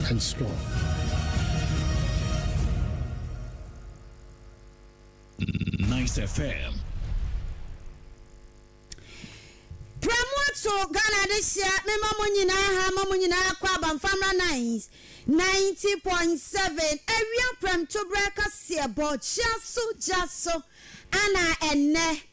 and strong. Nice FM. Prɛmu ato Ghana de hyia mema mo nyinaa ha ma mo nyinaa kɔ aba mfa mmra nice ninety point seven awia prɛmtoberɛ kaseɛ bɔ gya so gya so ana ɛnɛ.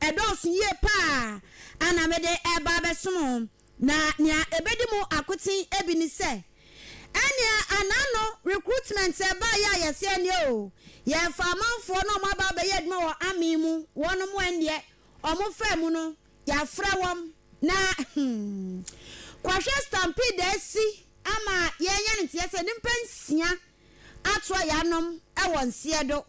Ɛdɔɔso yie paa a na mede reba abɛsom mo, na nea ɛbɛdi mu akoten bi ne sɛ, ɛnneɛ an'ano recruitment ɛbaeɛ a yɛse ɛnneɛ o, yɛfa amanfoɔ na wɔaba abɛyɛ adwuma wɔ amen mu, wɔnom ɛnneɛ wɔfaa mu no, yɛafrɛ wɔn, na hmm, kɔhwɛ stampede a asi ama yɛanya no nteɛ sɛ nnipa nsia atoa yɛanom wɔ Nseɛdo.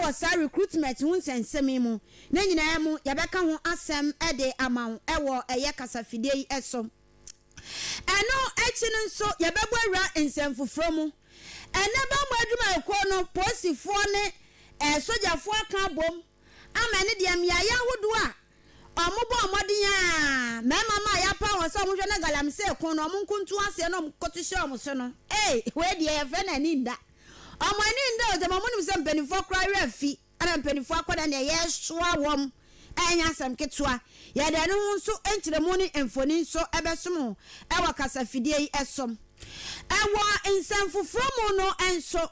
wɔ saa recruitment ho nsɛnsɛm yi mu. Ne nyinaa mu, yɛbɛka ho asɛm de ama wo wɔ ɛyɛ kasafidie yi so. Ɛno akyi no nso, yɛbɛbɔ awura nsɛmfoforɔ mu. Ɛnnɛ bammɔ adwumayɛkuo no, polisifoɔ ne sogyafoɔ aka abom ama ɛne deɛ mmeaeɛ ahodoɔ a Wɔbɔɔ mmɔden ara, mmarima mma a yɛapaw wɔn sɛ wɔnhwɛ na galamsey ko no, wɔn nko ntu aseɛ na wɔkɔto hyɛ wɔn so no, ei, wei deɛ yɛfrɛ no ani nna. Wɔn ani nna o, gyama wɔnim sɛ mpanimfoɔ koraa werɛ afi, ɛna mpanimfoɔ akɔda deɛ yɛresoa wɔn ɛnyɛ asɛm ketewa. Yɛde ɛno ho nso nkyerɛmu ne mfoni nso bɛsom wo wɔ kasafidie yi so. Wɔ nsɛm foforɔ mu no nso,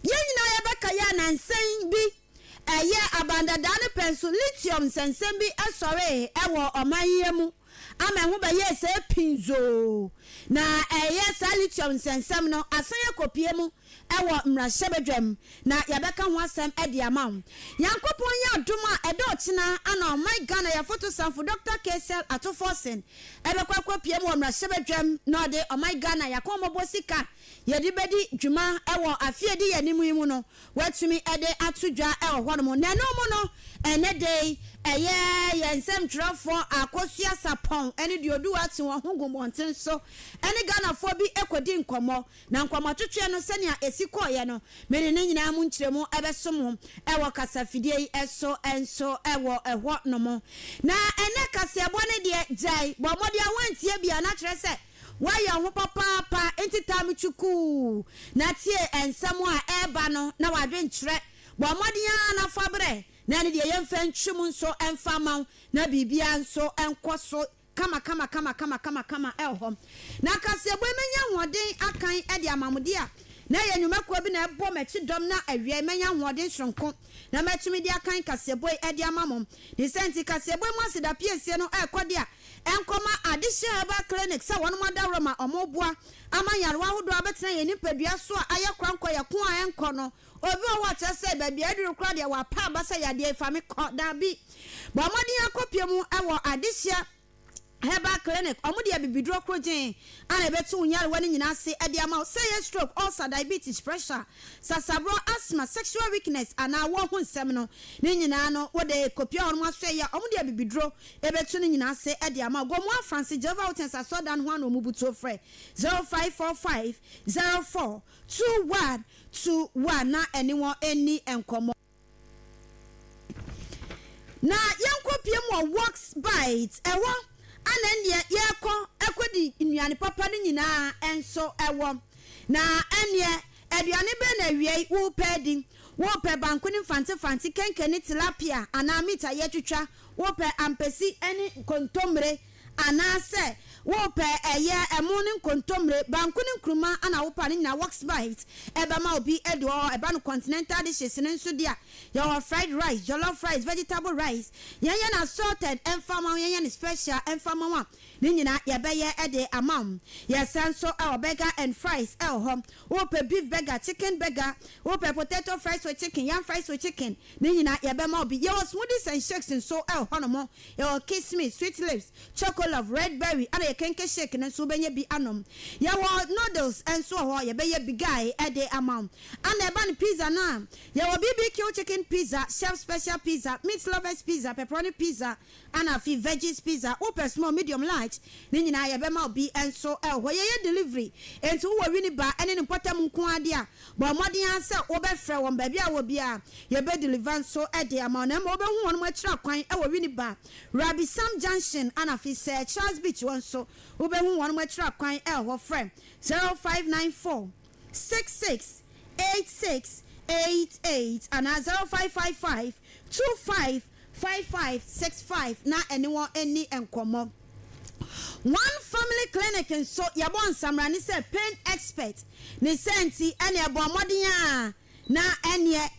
yɛn nyinaa yɛbɛkae a nansa yi bi Ɛyɛɛ aban dada no pɛn so lithium nsɛnsɛm bi sɔree wɔ ɔman yi mu ama ɛho bɛyɛɛ sɛ pinzoo, na ɛyɛ saa lithium nsɛnsɛm no asan akopue mu wɔ mmarahyɛbadwam, na yɛbɛka ho asɛm de ama wo. Nyankopɔn yɛ adom a, ɛda ɔkyena ana ɔman Ghana yɛafotosanfo Dɔkta Kcell Ato Forson bɛkɔ akopue mu wɔ mmarahyɛbadwam na ɔde ɔman Ghana yɛakɔnmɔbɔ sika yɛde bɛdi dwuma wɔ afe a ɛdi yɛn anim yi mu no Wɔatumi de ato dwa wɔ hɔnom. Na ɛno mu no, ɛnnɛ da yi, ɛyɛ yɛn nsɛmtwerɛfoɔ Akosua Sarpong ne Duoduo Atsewa ho gu mmɔnten so ne Ghanafoɔ bi kɔdi nkɔmmɔ. Na nkɔmmɔtwetweɛ no, sɛnea ɛsi kɔeɛ no, me ne ne nyinaa mu nkyerɛmu bɛso mo wɔ kasafidie yi so nso wɔ hɔnom. Na ɛnnɛ kaseɛbɔ no deɛ, gyae, bɔ mmɔden a woantie biara, na kyerɛ sɛ, Woayɛ ho papaapa ntsi taa me chukuu na tsie nsɛm a ɛreba no na w'adwenkyerɛ. Bɔ mbɔden ara na fa berɛ na ɛne deɛ yɛmfa ntwi mu nso mfa mma wo na biribiara nso nkɔ so kamakamakamakama hɔ. Na kaseɛbɔ yi mɛnya ahoɔden akan de ama mo dea na ɛyɛ nnwumakuo bi na ɛbɔ m'akyi dɔm na awiɛi mɛnya ahoɔden soronko na mɛtumi de akan kaseɛbɔ yi de ama mo. Ne sɛ nti kaseɛbɔ yi mu asedapiesie no ɛrekɔ dea Nkɔma Adesua Herbal Clinic sɛ wɔnom adaworo ma wɔboa ama nyarewa ahodoɔ abɛtena yɛn nipadua so a ayɛ korankɔ yɛ ko a ɛnkɔ no. Obi wɔ hɔ a kyerɛ sɛ baabi a aduru koraa deɛ wapa aba sɛ yadeɛ yi fa me kɔ. Daabi. Bɔ mmɔden ara kɔpie mu wɔ Adesua Herbal Clinic. Wɔn de abibiduro korogyen a ɛbɛto wo nyarewa no nyinaa ase de ama wo. Sɛ ɛyɛ stroke, ulcer, diabetes, pressure, sasaborɔ, asthma, sexual weakness anaa awoɔ ho nsɛm no, ne nyinaa no wode kɔpie hɔnom aso ɛyɛ a wɔde abibiduro Ebetu ne nyina ase de ama wo. Go mu Afranse, Jehovah Witness asɔrdan ho ano mmubu tuo frɛ 0545 04 21 21 na ɛne wɔn nni nkɔmmɔ. Na yɛnkɔpue mu wɔ Works Byte, ɛhɔ na ɛnneɛ yɛrekɔ akɔdi nnuane papa no nyinaa nso wɔ. Na ɛnneɛ aduane bɛn na awiei worepɛ adi? Worepɛ banku ne mfantefante, kenke ne tilapia anaa meat a yɛatwitwa? Wopɛ ampesi ne nkontommire anaasɛ wopɛ ɛyɛ ɛmo ne nkontommire, banku ne nkruma na wopɛ a, ne nyinaa Wuxbite bɛma wo bi. Edu hɔ a, ɛba no continental dishes no nso de a. Yɛwɔ fried rice, jollof rice, vegetable rice. Yɛnyɛ no assorted mfa mma wo, yɛnyɛ no special mfa mma wo a, ne nyinaa yɛbɛyɛ de ama wo. Yɛsan nso wɔ burger and fries wɔ hɔ. Wopɛ beef burger, chicken burger, wopɛ potato fries with chicken, yam fries with chicken, Ne nyinaa yɛbɛma wo bi. Yɛwɔ smoothies and shakes nso wɔ hɔnom. Yɛwɔ Kiss Me, Sweet Lips, Choco Love, Red Berry ɛna yɛn Kenkey Shake no nso wobɛnya bi anom. Yɛwɔ noodles nso wɔ hɔ, yɛbɛyɛ bi guy de ama wo. Ɛna ɛba no pizza no a, yɛwɔ BBQ Chicken Pizza, Chef Special Pizza, Meat Lovers Pizza, Pepperoni Pizza, Ana afei veggies pizza wopɛ small medium large ne nyinaa yɛ bɛma wo bi nso wɔ hɔ yɛ yɛ delivery enti wowɔ Winneba ne ne mpɔtam nko ara de a bɔ mmɔden ara sɛ wo bɛ frɛ wɔn baabi a wɔ biara yɛ bɛ deliver nso de ama wo na mmɔ wo bɛ hu wɔn akyiri akwan wɔ Winneba Rabi Sam junction ana afei sɛ Charles beach hɔ nso wo bɛ hu wɔn akyiri akwan hɔ frɛ 0594 66 86 88 anaa 0555 25 Five five six five na ɛne wɔn nni nkɔmmɔ. One Family Clinic nso, yɛbɔɔ nsamrane sɛ pain expert. Ne saa nti, ɛnna yɛbɔɔ mmɔden ara na ɛnneɛ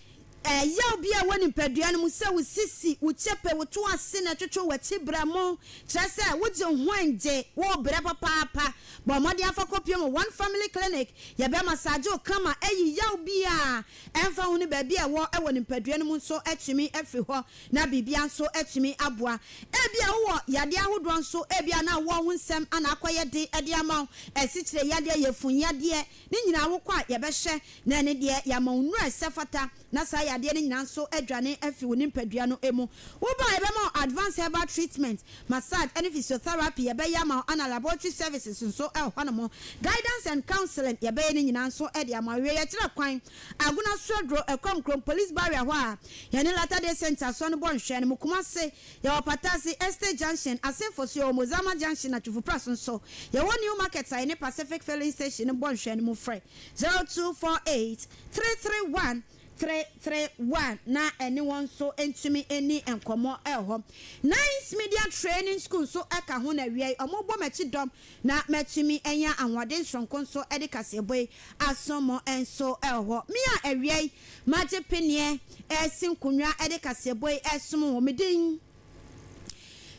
ɛyaw bi a ɛwɔ nipadua no mu, sɛ wo sisi, wo kyepe, wo to ase na ɛtwetwe w'akyi berɛmo, kyerɛ sɛ wogye wo ho ngye, worebrɛ papaapa. Bɔ mmɔden fa kɔpue ma One Family Clinic. Yɛbɛmasaagye wo kama ayi yaw biara Ɛmfa ho ne baabi a ɛwɔ wɔ nipadua no mu nso atumi afiri hɔ, na biribiara nso atumi aboa. Ebia wowɔ yadeɛ ahodoɔ nso, ebia na awoɔ ho nsɛm na akɔyɛ den de ama wo, asikyire yadeɛ, yafunu yadeɛ, ne nyinaa wokɔ a yɛbɛhwɛ na ɛne deɛ yɛama wo nnuro a ɛsɛ fata na saa yadeɛ no nyinaa nso adwane afiri wo nipadua no mu. Woba a yɛbɛma wo advanced herbal treatment Massage ne physiotherapy yɛbɛyɛ ama wo ana laboratory services nso wɔ hɔnom. Guidance and counselling yɛbɛyɛ ne nyinaa nso de ama wo. Awiei yɛkyerɛ kwan Agona Sraduro, Ɛkɔm Krom Police Barrier hɔ a yɛne Latter Day Saint Asɔre no bɔ nhwɛɛ no. Mo Kumasi, yɛwɔ Patasi, Estate Junction, Asenfo so, yɛwɔ Mozama Junction, Atwifo Press nso. Yɛwɔ New Market a yɛne Pacific Filling Station no bɔ nhwɛɛ no mu. Frɛ 0248 331 Tretrew a na ɛne wɔn nso ntumi nni nkɔmmɔ hɔ. Nines Media Training School nso ka ho na awiei wɔbɔ m'akyi dɔm na matumi anya ahoɔden soronko nso de kaseɛbɔ yi asom mo nso hɔ. Me a awiei magye peneɛ resi nkonnwa de kaseɛbɔ yi resom wɔn. Me din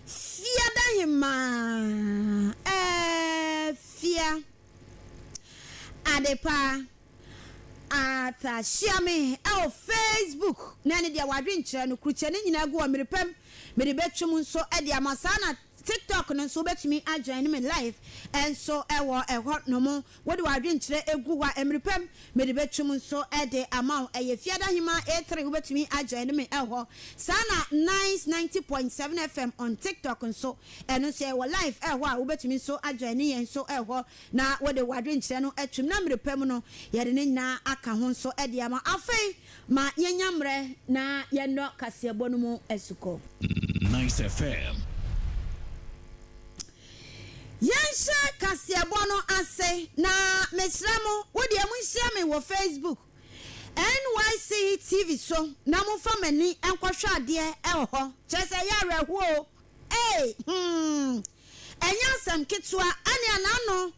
Fiadahemaa Afia Adepa. Arthur hyia me wɔ Facebook na ɛne deɛ wadwen kyerɛ no kurukyɛ no nyinaa gu hɔ mmere pɛ mu mede bɛtwa mu nso de ama saa na TikTok no nso wobɛtumi a join me live nso wɔ ɛhɔ nom wode wadwen kyerɛ gu hɔ a mmere pɛ mu mede bɛtwa mu nso de ama wo ɛyɛ Fiada Hemaa A3 wobɛtumi a join me wɔ hɔ saa na Nice 90.7 FM on TikTok nso ɛno nso yɛwɔ live wɔ hɔ a wobɛtumi nso a join yɛn nso wɔ hɔ. na wode w'adwenkyerɛ no atum, na mmerɛ pa mu no yɛde ne nyinaa aka ho nso de ama wo. Afei ma yɛnya mmerɛ na yɛnnɔ kaseɛbɔ no mu asukɔ. Nice FM. Yɛnhyɛ kaseɛbɔ no ase, na mesrɛ mo, wo deɛ monhyia me wɔ Facebook, NYC TV so, na momfa m'ani nkɔhwɛ adeɛ wɔ hɔ, kyerɛ sɛ ɛyɛ awerɛhoɔ o, ee, hmm. Ɛnyɛ asɛm ketewa, ɛne ɛna ano,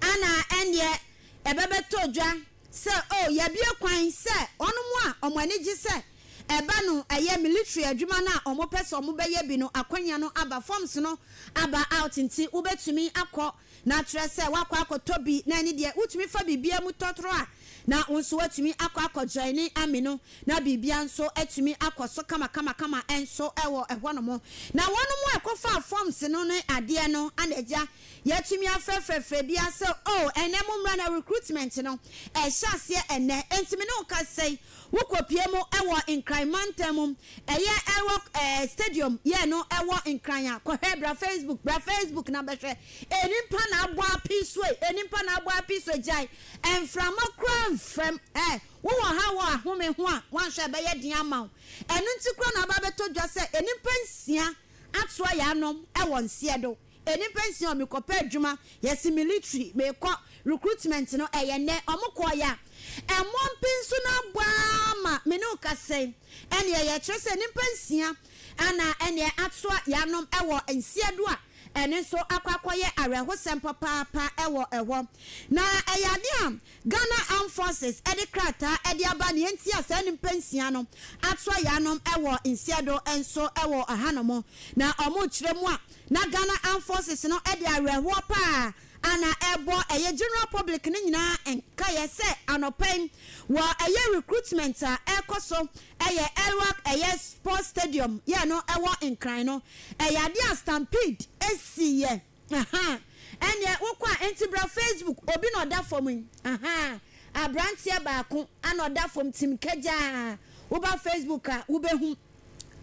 ana ɛnneɛ ɛbɛbɛtɔ dwa sɛ, oh, yɛabue kwan sɛ wɔnom a wɔn ani gye sɛ ɛba no ɛyɛ military adwuma no a wɔpɛ sɛ wɔbɛyɛ bi no akwanya no aba, forms no aba out nti wobɛtumi akɔ na akyerɛ sɛ woakɔ akɔtɔ bi na ɛne deɛ wotumi fa biribiara mu tɔtrɔ a na wo nso woatumi akɔ akɔjoin ne army no na biribiara nso atumi akɔ so kamakamakama nso wɔ ɛhɔnom. Na wɔnom a wɔkɔfaa forms no ne adeɛ no ana agya yɛatumi afrɛfrɛ frɛ biara sɛ oh ɛnnɛ mommra na recruitment no ɛrehyɛ aseɛ ɛnnɛ. Enti me ne wo kasa yi wokɔpue mu wɔ Nkran mantam mu, ɛyɛ ɛwɔ ɛɛ stadium yɛ no ɛwɔ Nkran a, kɔhwɛ bra Facebook, bra Facebook na bɛhwɛ. Ɛnimpa na abɔ apee so ei, ɛnimpa na abɔ apee so ei, gyae Mframa koraa mfam. Ɛ, wowɔ ha wɔ ahome ho a, woanhwɛ a ɛbɛyɛ den ama wo. Ɛno nti koraa na aba abɛtɔ dwa sɛ nnipa nsia atoa yɛn anom wɔ nseɛ do. Nnipa nsia o, mekɔpɛ adwuma, yɛse military, mekɔ recruitment no, ɛyɛ nnɛ. Wɔkɔɔeɛ a, ɛmmoa mpe nso na abɔ ara ma me ne wo kasa yi. Ɛnneɛ, yɛkyerɛ sɛ nnipa nsia Ana ɛnneɛ atoa yɛanom wɔ nseɛ do a ɛno nso akɔ akɔyɛ awerɛhosɛm papaapa wɔ hɔ. Na ɛyɛ adeɛ a Ghana Armed Forces de krataa de aba neɛ nti a saa nnipa nsia no atoa yɛanom wɔ nseɛ do nso wɔ hanom. Na wɔrekyerɛ mu a na Ghana Armed Forces no de awerɛhoɔ pa ara a na ɛrebɔ ɛyɛ general public no nyinaa nkaeɛ sɛ anɔpa yi wɔ ɛyɛ recruitment a ɛrekɔ so Ɛyɛ Elwak ɛyɛ sports stadium yɛ no ɛwɔ nkran no ɛyɛ adeɛ a stampede ɛsi yɛ ahaa ɛneɛ wo kɔ a ɛnti bra facebook obi na ɔda fam yi ahaa abranteɛ baako na ɔda fam tim kɛgyaa wo ba facebook a wo bɛ hum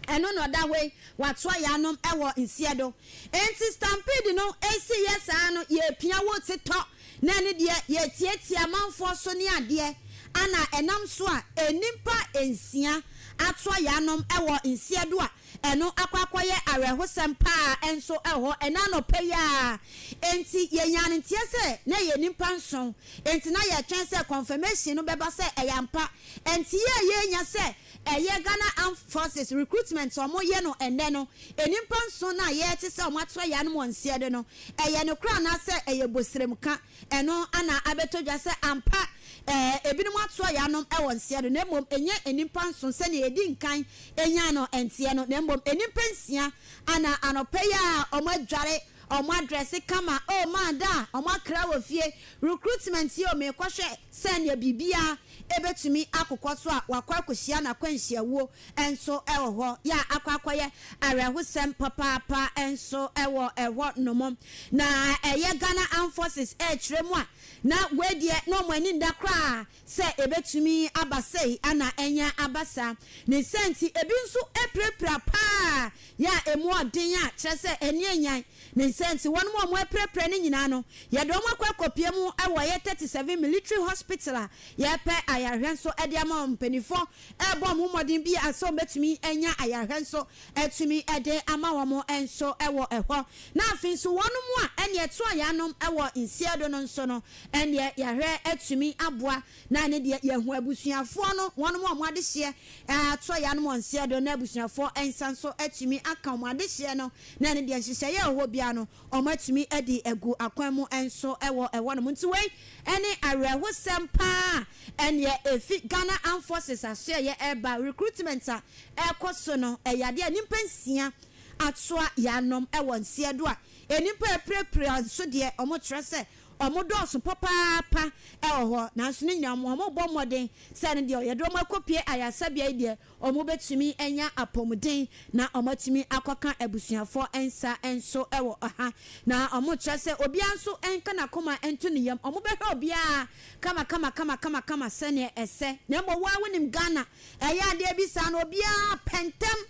ɛno na ɔda hɔ yi watoa yɛ anom ɛwɔ nsiɛ do ɛnti stampede no ɛsi yɛ saa no yɛ pia wo te tɔ. Na ɛno deɛ yɛtiatia amanfoɔ so ne adeɛ a na ɛnam so a nnipa nsia atoa yɛn anom wɔ nseɛ do a ɛno akɔ akɔyɛ awerɛhosɛm paa nso wɔ hɔ ɛnɛ anɔpa yi ara enti yɛnyaa no nteɛ sɛ na yɛyɛ nnipa nson enti na yɛtwɛn sɛ confirmation no bɛba sɛ ɛyɛ ampa nteɛ a yɛnya sɛ Ɛyɛ Ghana Armed Forces recruitment a wɔyɛ no ɛnnɛ no, nnipa nson a yɛte sɛ wɔn atoa yɛn anom ɔnseɛ de no, ɛyɛ nokorɛ anaasɛ ɛyɛ boseremka? Ɛno na abɛtɔ dwa sɛ ampa ɛɛ ebinom atoa yɛn anom wɔ nseɛ do, na mmom ɛnyɛ nnipa nson sɛdeɛ yɛdi nkan nyaa no nteɛ no, na mmom nnipa nsia na anɔpa yi ara wɔadware Ɔmo adrɛse kama oo maa da a ɔmo akra wɔ fie recruitment yi oo meekɔhwɛ sɛ nea biribiaa ɛbɛtumi akokɔ so a wakɔ akɔhyia no akwanhyia wuo nso wɔ hɔ yɛ a akɔ akɔyɛ awerɛhosɛm papaapa nso wɔ hɔ nom na ɛyɛ Ghana Armed Forces ɛɛkyerɛ mu a na wei deɛ na ɔmo ani nda koraa sɛ ebetumi aba sei anaa ɛnyɛ aba saa. Ne saa nti, ebi nso apirapira paa yɛ a emu yɛ den a kyerɛ sɛ ani anyan. Ne saa nti, wɔnom a wɔapirapira no nyinaa no, yɛde wɔn akɔ akɔpue mu wɔ yɛ thirty seven Military Hospital a yɛrepɛ ayarehwɛ nso de ama wɔn. Mpaninfoɔ rebɔ wɔn mmɔden bi a sɛ wɔbetumi anya ayarehwɛ nso atumi de ama wɔn nso wɔ ɛhɔ. Na afei nso wɔnom a ɛnneɛ ɛto ayaanom wɔ nsiadono nso no, Ɛnneɛ yɛahwɛ atumi aboa na ɛne deɛ yɛahu abusuafoɔ no wɔn a wɔn adehyeɛ atɔ yɛ anom ɔnseɛ do na abusuafoɔ nsa nso atumi aka wɔn adehyeɛ no na ɛne deɛ nhyehyɛeɛ a ɛwɔ biara no wɔn atumi adi agu akwan mu nso wɔ ɛhɔnom nti wei ne awerɛhosɛm paa a ɛnneɛ ɛfi Ghana Armed Forces asoɛeɛ ɛreba recruitment a ɛrekɔ so no ɛyɛ adeɛ a nnipa nsia atoa yɛ anom wɔ nseɛ do a nnipa a apirapira nso deɛ wɔkyerɛ sɛ Wɔdɔɔso papaapa wɔ hɔ, nanso ne nyinaa mu wɔrebɔ mmɔden sɛ ɛno deɛ yɛde wɔn akɔpue ayaresabea yi deɛ wɔbɛtumi anya apɔmuden na wɔatumi akɔka abusuafoɔ nsa nso wɔ ha. Na wɔkyerɛ sɛ obiara nso nka n'akoma nto ne yam, wɔbɛhwɛ obiara kamakamakamakama sɛdeɛ ɛsɛ. Na mmom wo ara wonim Ghana, ɛyɛ adeɛ bi saa no obiara pɛ ntɛm.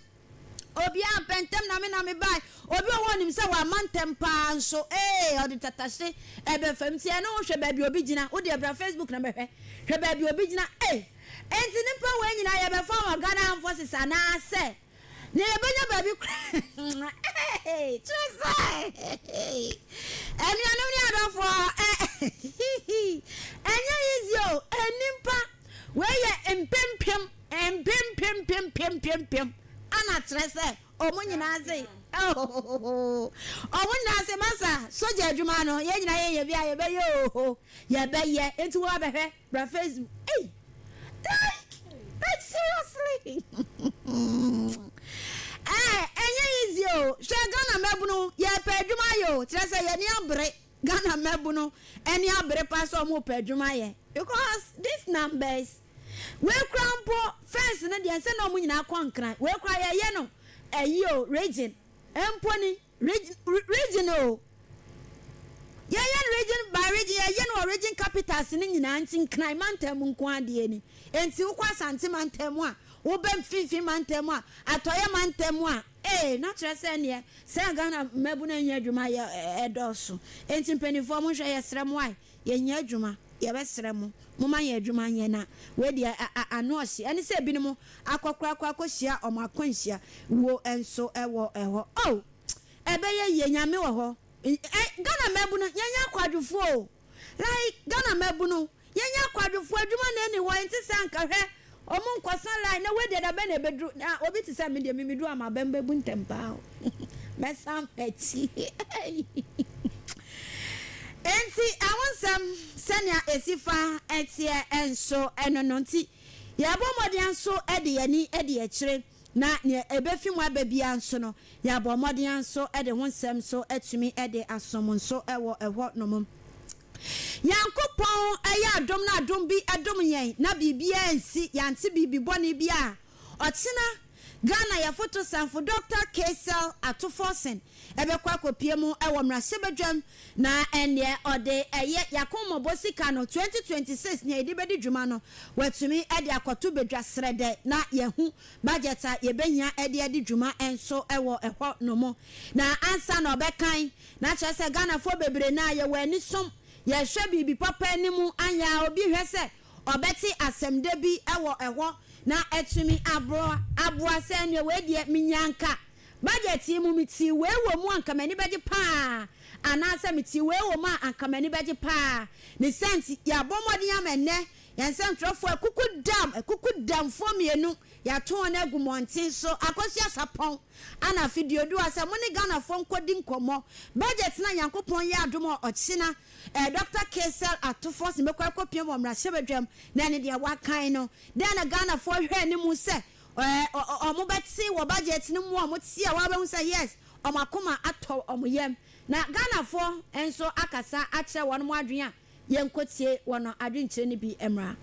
Obiara ampɛ ntɛm na me na mebae. Obi wɔ hɔ a onim sɛ wamma ntɛm paa nso ee, ɔde tatahye reba fam. Tie ɛno ho, hwɛ baabi a obi gyina. Wo deɛ bra Facebook na bɛhwɛ. Hwɛ baabi a obi gyina ee. Enti nnipa wei nyinaa yɛbɛfa wɔn Ghana Armed Forces anaasɛ nea yɛbɛnya baabi koraa ee. Kyerɛ sɛ anuanom ne adɔfoɔ ee ɛnyɛ easy o. Nnipa wei yɛ mpempem. Mpempempempempempem ana kyerɛ sɛ ɔmo nyinaa ase oohh ɔmo nyinaa ase masa sogya adwuma ano yɛn nyinaa yɛn yɛ bi a yɛ bɛ yɛ oohh yɛ bɛ yɛ nti wo abɛ hwɛ bra facebook ei like like seriously ɛɛ ɛnyɛ easy o hwɛ Ghana mmabunu yɛ pɛ adwuma ayɛ o kyerɛ sɛ yɛ ni abere Ghana mmabunu ɛni abere pa sɛ ɔmo pɛ adwuma ayɛ because this numbers. Wei koraa mpo fence no deɛ ɛnsɛ na wɔn nyinaa kɔ nkran. Wei koraa yɛyɛ no ɛyi o region mpo ni. Reg region o. Yɛyɛ no region by region yɛyɛ no wɔ region capitals no nyinaa nti nkran mantam mu nko ara deɛ ni. Nti wokɔ Asante mantam mu a, woba mfinfin mantam mu a, atɔeɛ mantam mu a, ee na kyerɛ sɛ neɛ sɛ Ghana mmabunu annya adwuma yɛ ɛdɔɔso. Nti mpaninfoɔ monhwɛ yɛsrɛ mo ae Yɛnyɛ adwuma, yɛbɛsrɛ mo, momma yɛn adwuma nyɛ na wei deɛ a ano ɔhye. Ɛne sɛ ebinom akɔkorakora akɔhyia wɔn akwanhyia wuo nso wɔ hɔ. Oh! Ɛbɛyɛ yie, Nyame wɔ hɔ. Ɛ, Ghana mmabunu, yɛnyɛ akwadwofoɔ o. Like, Ghana mmabunu, yɛnyɛ akwadwofoɔ, adwuma na ɛni hɔ, ɛnte sɛ anka, hwɛ, Ɔmo nkɔsa line na wei deɛ dabɛn na ɛbɛduru na obi te sɛ me deɛ me meduru a m'abam bɛbu ntɛm paa o mɛsan m'akyi Enti ɛho nsɛm sɛnea ɛsi fa teɛ ɛnso ɛno no nti yɛbɔ mmɔden anso de yɛn ani adi akyire na nea ɛbɛfi mu aba biara nso no yɛabɔ mmɔden anso de ho nsɛm nso atumi de aso mo nso wɔ ɛhɔ nom. Nyankopɔn yɛ adom na adom bi dom yɛn na biribiara ansi, yɛante biribi bɔne biara. Ɔkyena, Ghana yɛfotosanfo Dɔkta Kaysel Ato Forson bɛkɔ akɔpue mu wɔ mmarahyɛbadwam na ɛnneɛ ɔde ɛyɛ Y'akommɔbɔ sika no 2026 nea yɛde bɛdi dwuma no watumi de akɔto badwa srɛdɛ na yɛahu budget a yɛbɛhia de adi dwuma nso wɔ hɔ nom na ansa na ɔbɛkan Na kyerɛ sɛ Ghanafoɔ bebree no ara yɛwɔ anisom, yɛhwɛ biribi papa anim, anyɛ a obi hwɛ sɛ ɔbɛte asɛmdɛ bi wɔ hɔ na atumi aboa aboa sɛ ɛneɛ wei deɛ menyaa anka budget yi mu metee wei wɔ mu a anka m'ani bɛgye paa anaasɛ metee wei wɔ mu a anka m'ani bɛgye paa ne saa nti yɛabɔ mmɔden ama ɛnnɛ Yɛn nsɛntwerɛfoɔ akukudam, akukudamfoɔ mmienu, yɛato wɔn agu mmɔnten so, Akosua Sarpong and Afe Duodua sɛ mo ne Ghanafoɔ nkɔdi nkɔmmɔ. Budget no a Nyankopɔn yɛ adom a ɔkyena eh, Dɔkta Caesar Ato Forson bɛkɔ akɔpia mu wɔ mmarahyɛbadwam na ɛne deɛ wɔakan no. Dɛn na Ghanafoɔ hwɛ anim sɛ eh, wɔbɛte wɔ budget no mu a wɔte a wɔabɛhu sɛ yes, wɔn akoma atɔ wɔn yam na Ghanafoɔ nso akasa akyerɛ wɔn adwene a Yɛnkɔtie wɔn adwenkyerɛ no bi mmra.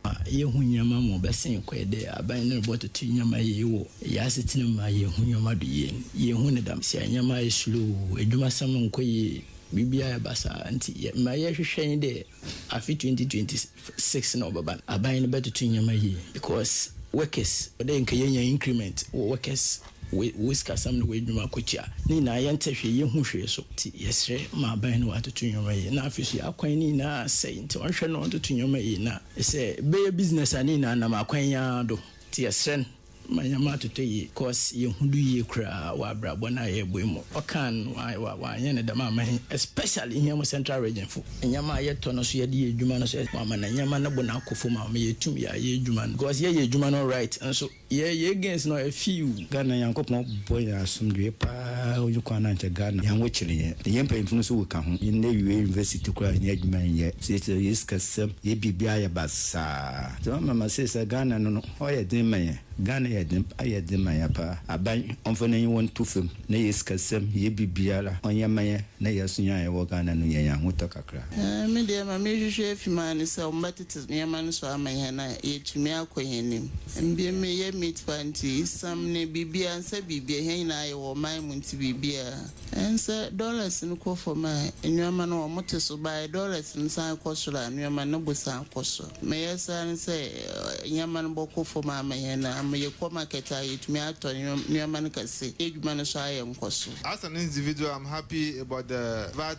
Ma yɛnhu nneɛma mu bɛsen kɔ yɛ dɛ aban no rebɔ toto nneɛma yie wɔ yɛ asetena mu ma yɛnhu nneɛma do yie. Yɛnhu no dam sɛ nneɛma ayɛ slow, adwumasɛm nkɔ yie, biribiara ayɛ basaa nti yɛ ma yɛhwehwɛ ne dɛ afe 2026 na ɔbɛba no aban no bɛtoto nneɛma yie because workers ɔdɛ nka yɛnya increment wɔ workers. Wei, wo sikasɛm ne w'adwuma ko tia. Ne nyinaa yɛnte hwee, yɛnhu hwee so. Nti yɛsrɛ ma aban no atoto nneɛma yie. Na afei nso yɛn akwan no nyinaa asɛe, nti ɔnhwɛ na ɔntoto nneɛma yie. Na sɛ bɛyɛ business a, ne nyinaa nam akwan yi ara do. Nti yɛsrɛ no ma nneɛma atotɔ yie, coz yɛnhu do yie koraa wɔ abrabɔ no a yɛrebɔ yi mu. Ɔkaa no, wɔanyɛ no dɛm amma he, especially hia mo Central Region fo. Nneɛma a yɛtɔ no so, yɛde yɛ adwuma no so, wɔama no nneɛma no bo no akɔ fam a, ɔma yɛtum yɛ a yɛ adwuma no, coz yɛyɛ adwuma no right nso. Yɛ yɛ gains no afiiw. Ghana Nyankopɔn bɔ yɛn asomdwee paa onyi kwan na nkyɛ Ghana yɛn wo kyere yɛn na yɛn mpanyinfo no nso wo ka ho yɛn awie university koraa yɛnnya adwuma nyɛ seisei yɛ sikasɛm yɛ biribiara yɛ basaa nti mama ma seisei Ghana no no hɔ yɛ den ma yɛn Ghana yɛ den ayɛ den ma yɛn paa aban ɔmfa n'aniwa nto fam na yɛ sikasɛm yɛ biribiara ɔnyɛ ma yɛn na yɛ asonya a yɛwɔ Ghana no yɛnya ahotɔ kakra. Me deɛ ma me hwehwɛ afi maa ne sɛ ɔmo bɛ. Tse nneɛma no so ama hɛn a, yetumi akɔ hɛn enyim. Mbom yɛ Mitfaa ntsi, esiam na biribiara, nnsɛ biribiara, hɛn nyina yɛwɔ ɔman mu ntsi biribiara, nnsɛ, dollars no kɔ famu a, nneɛma no wɔtse so, bae dollars no san kɔ sor a, nneɛma no bo san kɔ sor. Meyɛ saa nye sɛ, nneɛma no bɔkɔ famu ama hɛn, ama yɛkɔ market a, yetumi atɔ nneɛma no kɛse, hɛn edwuma no so ayɛ nkɔso. As an individual, I'm happy about the vat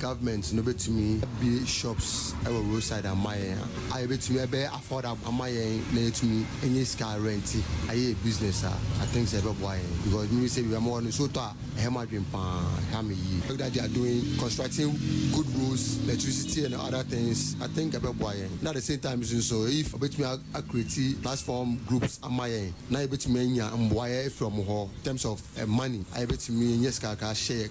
Government no bɛtumi abue shops wɔ road side ama yɛn a, a ɛbɛtumi ɛbɛyɛ affordable ama yɛn na yɛatumi anya sika arɛnti ayɛ yɛn business a, I think sɛ ɛbɛboa yɛn because me sɛ bi a mewɔ no Soto a ɛhɛ m'adwene paa, ɛha me yie. Work that they are doing, constructing good roads, electricity and other things, I think ɛbɛboa yɛn na at the same time nso nso if wɔbɛtumi a a create platform groups ama yɛn na yɛbɛtumi anya mboaeɛ afiri wɔn hɔ in terms of money a yɛbɛtumi anya sika kakra ahyɛ yɛn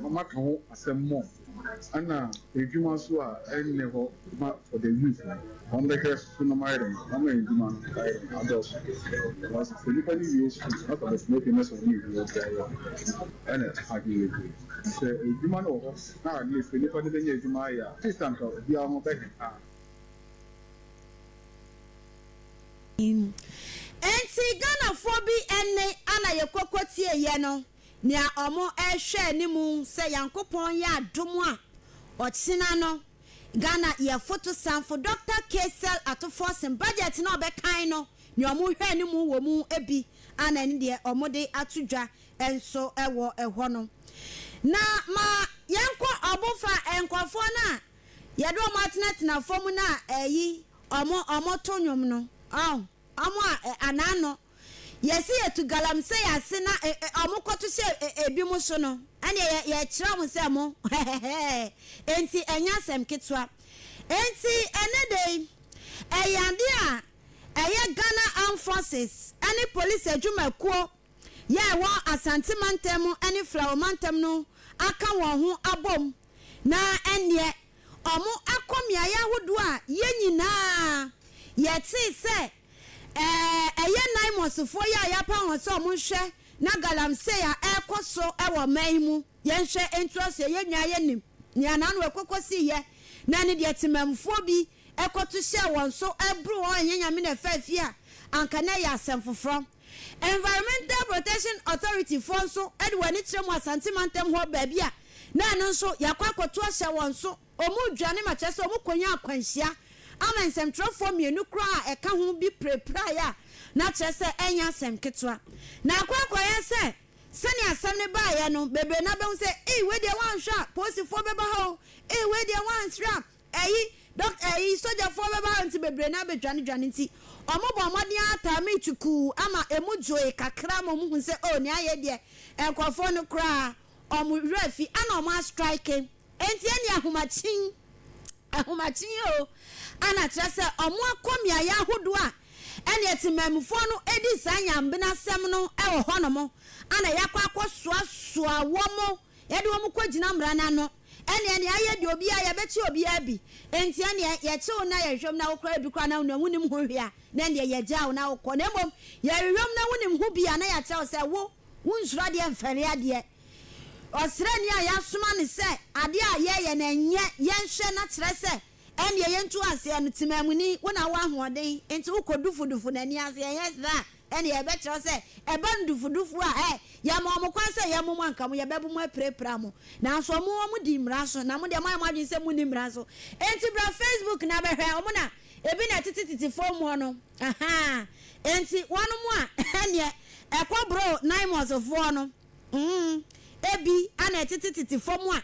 Mama ka ho asɛm more ɛna edwuma nso a ɛnnɛ hɔ ma for the youth no wɔn bɛhwɛ so nom ayɛ dɛn ama edwuma no ayɛ dɛn adɔɔso because sɛ nipa no wie sukuu na ɔkɔ bɛtena fie na sɛ ɔnyɛ edwuma biara a ɛna ɛfa adwene yɛ bio sɛ edwuma no wɔ hɔ na at least nipa no bɛnya edwuma ayɛ a atleast anka obiara ho bɛhɛ paa. Enti Ghanafoɔ bi ɛnne a na yɛkɔ kɔtie yɛ no. Nea wɔhwɛ anim sɛ Nyankopɔn yɛ adom a, ɔkyena no, Ghana yɛfoto sanfo Dɔkta K-Cell Ato Forson budget no a ɔbɛkan no, nea wɔhwɛ anim wɔ mu bi a na ɛne deɛ wɔde ato dwa nso wɔ hɔ no. Na ma yɛnkɔ ɔbo fa nkorɔfoɔ no a yɛde wɔn atenatena fam no a ayi wɔn wɔto nnwom no. Ɔn? Ɔmo a ɛ anan no, Yɛse yɛtu galamsey ase na ɛ ɛ ɔmo kɔto hyɛ ɛ ɛ ebinom so no, ɛneɛ yɛ yɛkyerɛ ɔmo sɛ mo hɛhɛhɛɛ, enti ɛnyɛ asɛm ketewa. Enti ɛnɛ da yi, ɛyɛ adeɛ a ɛyɛ Ghana Armed Forces ɛne Police adwumakuo yɛ a ɛwɔ Asante mantam ne Flawo mantam no aka wɔn ho abom na ɛnneɛ wɔakɔ mmeaeɛ ahodoɔ a yɛn nyinaa yɛtee sɛ ɛyɛ Naimosfoɔ yi a yɛapa wɔn sɛ wɔnhwɛ na galamsey a ɛrekɔ so wɔ ɔman yi mu yɛnhwɛ ntoa so. Yɛn nyinaa yɛnim nea n'ano ɛkɔ kɔsiiɛ na ne deɛ temammufoɔ bi ɛkɔto hyɛɛ wɔn so bere wɔn anyɛ Nyame na ɛfaa fie a, anka na ɛyɛ asɛm foforɔ. Environmental Protection Authority foɔ nso de wɔn ani kyerɛ mu Asante mantam hɔ baabi a na ɛno nso yɛakɔ akɔto ahyɛ wɔn so, wɔn dwane ma kyerɛ sɛ wɔn kɔnya akwanhyia ama nsɛmtwerɛfoɔ mmienu koraa a ɛka ho bi pirapiraeɛ a na kyerɛ sɛ ɛnyɛ asɛm ketewa na akɔ akɔyɛ sɛ sɛnea asɛm no baeɛ no bebree no abɛhu sɛ ei wei deɛ woanhwɛ a polisifoɔ bɛba ha o ei wei deɛ woansrɛ a Eyi, dɔk, eyi, sogyafoɔ bɛba ha nti bebree no ara bɛdwanedwane nti, wɔbɔɔ mmɔden ara taa me tukuu ama ɛmu dwoe kakra ma wɔhuu sɛ oh, nea ayɛ deɛ, nkurɔfoɔ no koraa wɔn werɛ afi, ana wɔn astrike. Enti ɛnneɛ ahomakyen, ahomakyen oo, ana kyerɛ sɛ wɔn akɔ mmeaeɛ ahodoɔ a ɛnneɛ temanmufoɔ no di saa nyambenasɛm no wɔ hɔnom, ana yɛakɔ akɔsoasoa wɔn. Yɛde wɔn kɔgyina mmara no ano. Ɛnneɛ nea ayɛ deɛ obiara, yɛbɛkye obiara bi. Enti ɛnneɛ, yɛkye wo na yɛhwehwɛ mu na wokora ebi koraa na wonam, wonim ho hwee a, na ɛnneɛ yɛgyaa wo na wokɔ. Na mmom, yɛhwehwɛ mu na wonim ho bi a, na yɛakyerɛ wo sɛ, Wo, wonsuro adeɛ mfɛre adeɛ. Ɔsraani a yɛasoma no sɛ adeɛ a yɛyɛ no ɛnyɛ, yɛnhwɛ na kyerɛ sɛ ɛnneɛ yɛntu aseɛ no, temammuni, wo na wowɔ ahoɔden, enti wokɔ dufudufo, na nni aseɛ, ɛnyɛ saa a, Ɛnneɛ yɛbɛkyerɛ sɛ ɛba ndufudufu a, ɛ, Yɛama wɔn kwan sɛ yɛmmo mo anka mo, yɛbɛbo mo apirapira mo. Nanso wɔn, wɔdi mmara so, na mo deɛ, moayɛ mo adwene sɛ monni mmara so. Enti bra Facebook na bɛhwɛ, wɔn na ebi na ɛtetetete fam hɔ no, ahaa, enti wɔnom a, ɛnneɛ ɛkɔ boro Naimosfoɔ no, mm, ebi na ɛtetetete fam a,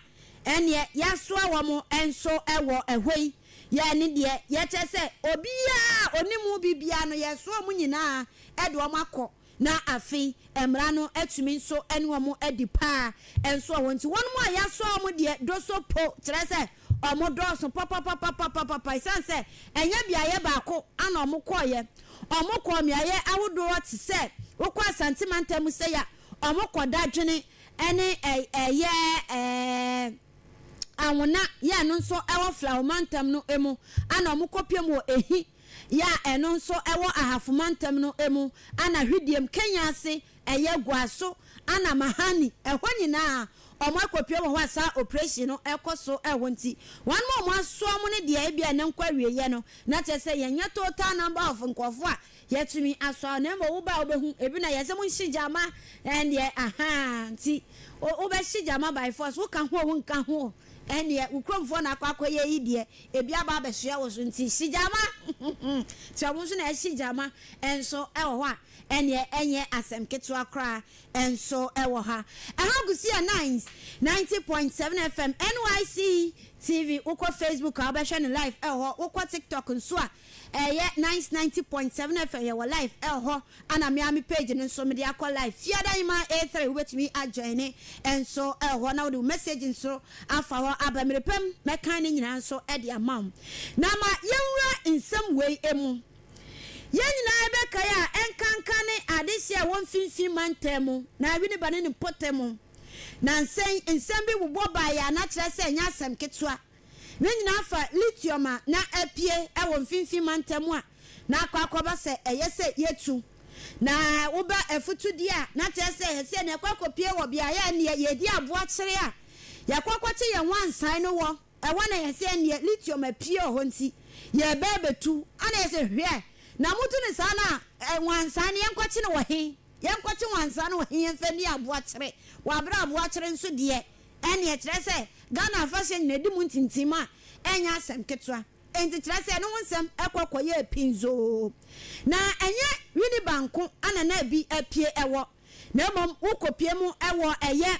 ɛnneɛ yɛasoa wɔn nso wɔ ɛhɔ yi. Yɛn ne deɛ, yɛkyɛ sɛ, obiara a ɔnim wo biribiara no, yɛresoa wɔn nyinaa de wɔn akɔ, na afei mmara no atumi nso ne wɔn adi paa nsoa wɔn. Enti wɔnom a yɛasoa wɔn deɛ, dɔ so po, kyerɛ sɛ, wɔdɔɔso papapapapapapa, ɛsiane sɛ ɛnyɛ beaeɛ baako na wɔkɔeɛ, wɔkɔɔ mmeaeɛ ahodoɔ te sɛ, wokɔ Asante mantam mu sei a, wɔkɔ Dadwene ne ɛyɛ. Anwona yɛ ɛno nso wɔ Flaho mantam no mu a na wɔkɔpiam wɔ Ehi yɛ a ɛno nso wɔ Ahafo mantam no mu a na Hwidiem, Kenya ase yɛ Guaso a na Mahani ɛhɔ nyinaa wɔakɔpiam wɔ hɔ a saa oprehyee no rekɔ so wɔ nti wɔn a wɔasoa wɔn no deɛ ebia ɛnɛ nkɔ awieɛ no na kyerɛ sɛ yɛnyɛ total number of nkurɔfoɔ a Yɛtumi asɔ wo na mmom wo ba a wobɛhu ebi na yɛsɛ mo nhye gyama ɛndeɛ ahaa nti wo bɛhye gyama by force wo ka ho a wo nka ho ɛndeɛ wo kuromfoɔ na akɔ akɔ yɛ yi deɛ ebi aba abɛsoɛ wo so nti hye gyama nti ɔmo nso na ɛhye gyama nso ɛwɔ hɔ a ɛndeɛ ɛnyɛ asɛm ketewa koraa nso ɛwɔ ha ɛha Busia Nines ninety point seven FM NYC TV wo kɔ Facebook a wo bɛhwɛ no live ɛwɔ hɔ wo kɔ TikTok nso a Ɛyɛ nice ninety point seven FM yɛwɔ live ɛhɔ ɛna me ara me page no nso mede akɔ live Fiada Nyimaa A three wobɛtumi a joine nso ɛhɔ na wode wo message nso afa hɔ aba mmerɛ pɛ mu mɛkan ne nyinaa nso de ama wo na ma yɛnwura nsɛm wei mu Yɛn nyinaa yɛbɛkae a ɛnkanka ne adehyeɛ a ɛwɔ mfimfini mantam mu na Winneba ne ne mpɔtam mu nansa yi nsɛm bi bobɔ baeɛ a na kyerɛ sɛ ɛnyɛ asɛm ketewa Ne nyinaa fa lithium a na apue wɔ mfinimfini mantam a na akɔ akɔba sɛ ɛyɛ sɛ yetu na woba afutudi a na kyerɛ sɛ ɛsɛ na ɛkɔ akɔpue wɔ beaeɛ a nneɛ yɛdi aboa kyere a yɛkɔ akɔkye yɛn wansan no wɔ ɛhɔ na ɛsɛ nneɛ lithium apue wɔ hɔ nti yɛreba abɛtu ana yɛsɛ hwɛ na motu no saa no a wansan no yɛnkɔkye no wɔ he yɛnkɔkye wansan no wɔ he yɛmfa nni aboa kyere wɔ aberɛ a aboa kyere nso deɛ Ɛnneɛ ɛkyerɛ sɛ Ghana afahyɛ nyinadi mu ntintim a ɛnyɛ asɛm ketewa. Enti kyerɛ sɛ ɛno ho nsɛm kɔ kɔyɛɛ pinzoo. Na ɛnyɛ Winneba nko na na ebi apue wɔ, na mmom wokɔpue mu wɔ ɛyɛ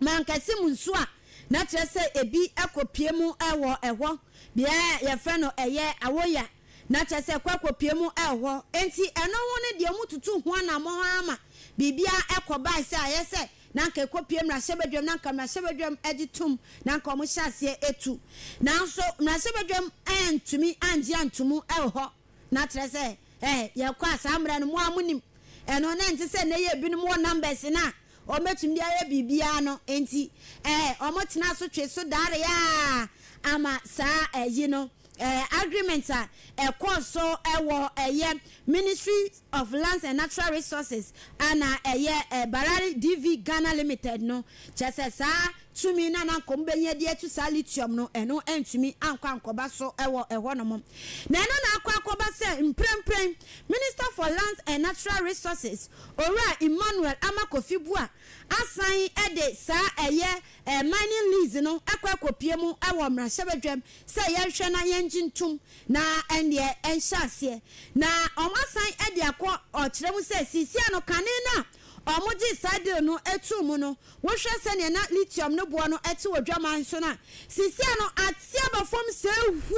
mankɛse mu nso a, na kyerɛ sɛ ebi kɔpue mu wɔ hɔ. Beaeɛ a wɔfrɛ no ɛyɛ Awoya, na kyerɛ sɛ kɔ kɔpue mu wɔ hɔ. Enti ɛno ho ne deɛ wɔtutu ho anammɔn ara ma biribiara kɔbae sɛ ayɛ sɛ na anka ɛkɔpue mmarahyɛbadwam na anka mmarahyɛbadwam gye tom na anka wɔhyɛ aseɛ tu. Nanso mmarahyɛbadwam antumi angye antom wɔ hɔ. Na kyerɛ sɛ eh, yɛkɔ a saa mmerɛ no mo ara monim. Ɛno na ɛnte sɛ nnɛ yi a ebinom wɔ numbers no a wɔbɛtumi de ayɛ biribiara no. Enti eh, wɔtenaa so twee so daaree ara ama saa ayi no. Agreement a ɛkɔɔ so wɔ ɛyɛ Ministry of Lands and Natural Resources a na ɛyɛ Barare DV Ghana Limited no, kyerɛ sɛ saa tumi no a na anka wɔbɛnya de atu saa lithium no, ɛno antumi ankɔ ankɔba so wɔ ɛhɔnom. Na ɛno na akɔ akɔba sɛ mprempren Minister for Lands and Natural Resources, Owura Emmanuel Ama Kofi Buah asan de saa ɛyɛ Mining lease no kɔ akɔpue mu wɔ mmarahyɛbadwam sɛ yɛnhwɛ na yɛngye ntom na ɛnneɛ ɛnhyɛ aseɛ. Na wɔasan de akɔ ɔkyerɛ mu sɛ seesei no kane no a wɔgyee saa deal no too mu no, wohwɛ sɛdeɛ na lithium no boɔ no te wɔ Dwaman so no a, seesei no ate aba fam sɛɛ hu.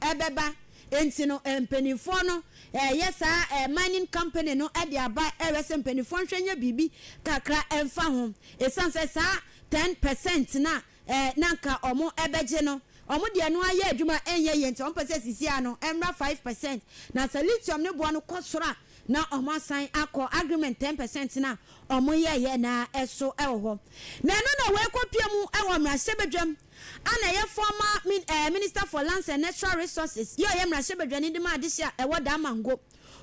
ɛbɛba. Enti no mpaninfoɔ no ɛɛyɛ saa ɛɛ mining company no ɛde aba ɛɛhwɛ sɛ mpaninfoɔ nhwɛ nyɛ biribi kakra ɛmfa ho. Ɛsiane sɛ saa ten percent no a ɛɛ na nka ɔmo ɛbɛgye no ɔmo deɛ no ayɛ adwuma ɛnyɛ yie nti ɔmo pɛ sɛ sisiaa no ɛmmra five percent. Na sɛ lithium no boɔ no kɔ soro a na ɔmo asan akɔ agreement ten percent no a ɔmo yɛɛyɛ no ara ɛso ɛwɔ hɔ. Na ɛno na wei kɔ pue mu ɛwɔ mmarahyɛbadwam a na ɛyɛ former min eh, Minister for Lands and Natural Resources yɛ ɔyɛ mmarahyɛbadwani de ma adehye a ɛwɔ Damango.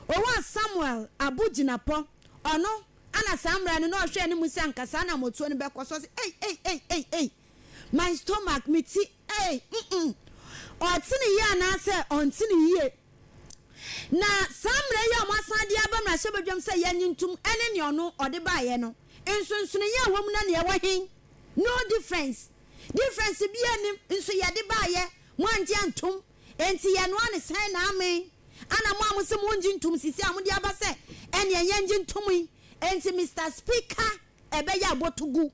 Owaa Samuel Abu Jinapɔ, ɔno ana saa mmara no na ɔhwɛ anim sɛ anka saa anamotuo no bɛkɔ so. Ɔse ei ei ei ei ei my stomach, me ti ei mm-mm, ɔte ne yie anaasɛ ɔnte ne yie. Na saa mmara yi a wɔasan de aba mmarahyɛbadwam sɛ yɛnye ntom ne nea ɔno ɔde baeɛ no, nsonsonoeɛ a ɛwɔ mu na nea ɛwɔ he? No difference. Difference biaa nnim, nso yɛde baayɛ, moangye antom, enti yɛnoa no sɛn na amen? Ana mo a mose mongye ntom sisi a mode aba sɛ ɛneɛ yɛngye ntom yi? Enti Mister Speaker, ɛbɛyɛ abotogu.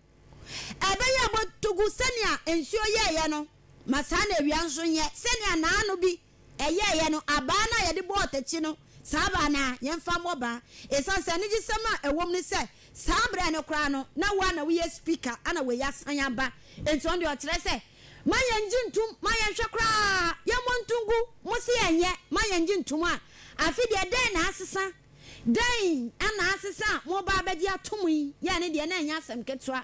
Ɛbɛyɛ abotogu sɛnea nsuo yɛeɛ no, ma saa na awia nso nyɛ, sɛnea naano bi Ɛyɛeɛ no, abaa no a yɛde bɔɔ ɔtakyi no, saa abaa no ara, yɛmfa mmɔ ban. Ɛsiane sɛ anigyesɛm a ɛwɔ mu ne sɛ, saa berɛ no koraa no, na wo ara na woyɛ Speaker, ɛnna wei asan aba. Enti ɔno deɛ, ɔkyerɛ sɛ, ma yɛngye ntom, ma yɛnhwɛ koraa, yɛmmɔ nto ngu. Mose yɛnyɛ, ma yɛngye ntom a, afe deɛ, dɛn na asesa? Dɛn na asesa a moreba abɛgye atom yi? Yɛn no deɛ, na ɛnyɛ asɛm ketewa.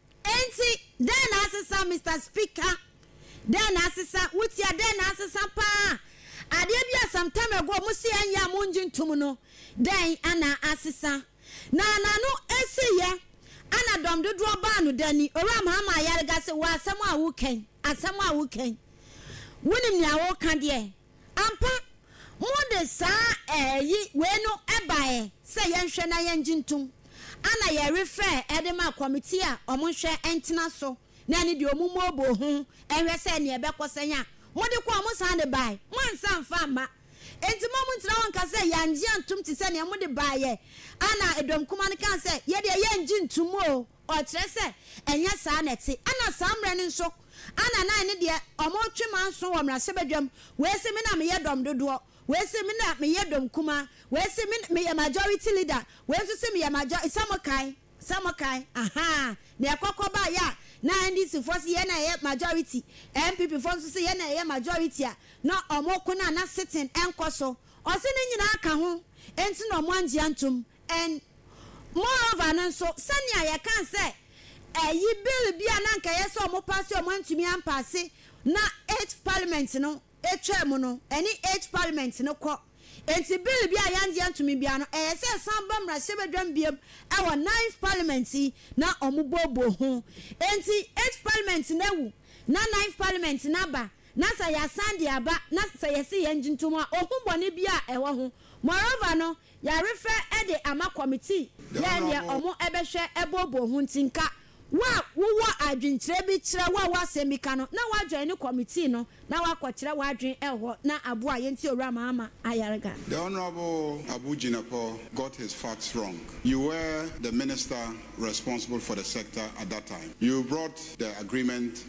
Enti, dɛn na asesa, Mister Speaker? Dɛn na asesa? Wutia dɛn na asesa paa? Adeɛ bi a some time ago mo se ɛnyɛ a mongye ntom no, dɛn na asesa? Na n'ano asiiɛ na dɔm dodoɔ baa no da ni. Owura Mahama Ayariga se, Wɔ asɛm a woreka yi, asɛm a woreka yi, wonim nea woreka deɛ? Ampa, mode saa ɛɛ yi wei no baeɛ sɛ yɛnhwɛ na yɛngye ntom. Ana yɛrefɛɛ de ma kɔmitii a wɔn nhwɛ ntena so na ɛne deɛ wɔn mmooboo ho nhwɛ sɛ ɛneɛ ɛbɛkɔ sɛn a mode kɔɔ wɔn san de baeɛ. Moansa amfa amma. Enti mo a montena hɔ nka sɛ yɛangye antom te sɛ neɛ mode baeɛ. Ana Edomkoma no kaa sɛ, Yɛdeɛ yɛngye ntom oo. Ɔkyerɛ sɛ ɛnyɛ saa na ɛte. Ɛna saa mmerɛ no nso ana na ɛne deɛ wɔretwe manso wɔ mmarahyɛbadwam, wei se me na meyɛ dɔm dodoɔ, wei se me na meyɛ dɔm kumaa, wei se me meyɛ majority leader, wei nso se meyɛ major sɛ mokae, sɛ mokae ahaa deɛ ɛkɔkɔ baeɛ a na NDC foɔ se yɛn na yɛyɛ majority, NPP foɔ nso se yɛn na yɛyɛ majority a na wɔreko no a na sitting nkɔ so. Ɔse ne nyinaa ka ho nti na wɔanngye antom. And moreover no nso, sɛnea yɛkaa sɛ ɛyi bill bi a na anka ɛyɛ sɛ wɔn paase a wɔantumi ampaase na eighth parliament no twaa mu no, ɛne eighth parliament no kɔ. Enti bill bi a yɛangye antumi biara no, ɛyɛ sɛ ɛsan ba mmarahyɛbadwam biom wɔ ninth parliament yi na wɔboaboa ho. Enti eighth parliament no awu na ninth parliament no aba na sɛ yɛasan de aba na sɛ yɛse yɛngye ntom a, ohu bɔne biara a ɛwɔ ho. Moreover no, Yarefɛ de ama kɔmitii yɛɛ neɛ ɔmo bɛhwɛ booboo ho nti nka wo a wowɔ adwenkyerɛ bi kyerɛ wo a wɔ asɛm bi ka no na woajɔine kɔmitii no na woakɔkyerɛ woadwen hɔ na aboa yɛn nti Owura Mahama Ayariga. The Honourable Abu Jinapor got his facts wrong. You were the minister responsible for the sector at that time. You brought the agreement.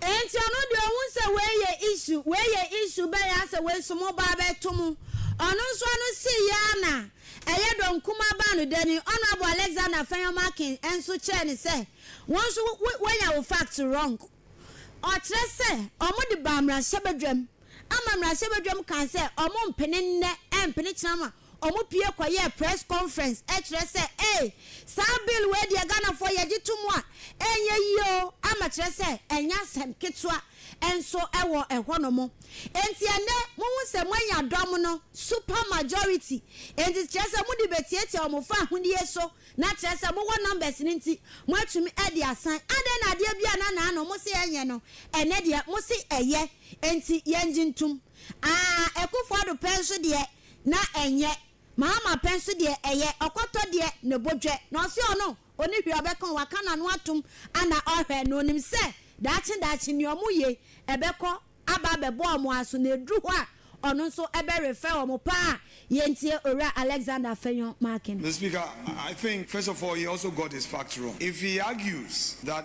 Enti ɔno deɛ ɔhu sɛ wei yɛ issue, wei yɛ issue bɛn ara sɛ wei nso mo ba abɛto mo. Ɔno nso ano see yɛ ara na ɛyɛ dɔ nkumaa baa no dɛ ni. Honourable Alexander Afenyo Markin nso kyerɛɛ no sɛ wo nso wo woanya wo facts wrong. Ɔkyerɛ sɛ wɔn de baa mmarahyɛbadwam ama mmarahyɛbadwam kaa sɛ wɔn mpene nnɛ ɛmpene kyena ma Wɔpue kɔyɛɛ press conference kyerɛ sɛ ee, saa bill wei deɛ Ghanafoɔ yɛgye to mu a, ɛnyɛ yie o, ama kyerɛ sɛ ɛnyɛ asɛm ketewa nso wɔ ɛhɔ nom. Enti ɛnnɛ mohu sɛ moanya dɔm no super majority, enti kyerɛ sɛ mode bɛtiatia wɔn fa ahodie so, na kyerɛ sɛ mowɔ numbers no nti moatumi de asan. Adɛn na adeɛ bi a na naano mose ɛnyɛ no, ɛnnɛ deɛ mose ɛyɛ, enti yɛngye ntom. Aah Akufo-Addo pɛ nso deɛ, na ɛnyɛ maa mapɛ nso deɛ ɛyɛ ɔkɔtɔ deɛ ne bo dwɛ na ɔse ɔno ɔni hwee ɔbɛka waka nano atom ana ɔhwɛ na ɔnim sɛ daakye daakye nea ɔmo ye ɛbɛkɔ aba abɛbɔ ɔmo aso na ɛduru hɔ a ɔno nso ɛbɛ refɛ ɔmo paa yɛntie owura Alexander Afenyo Markin. Mister Speaker, I think first of all he also got his facts wrong if he argues that.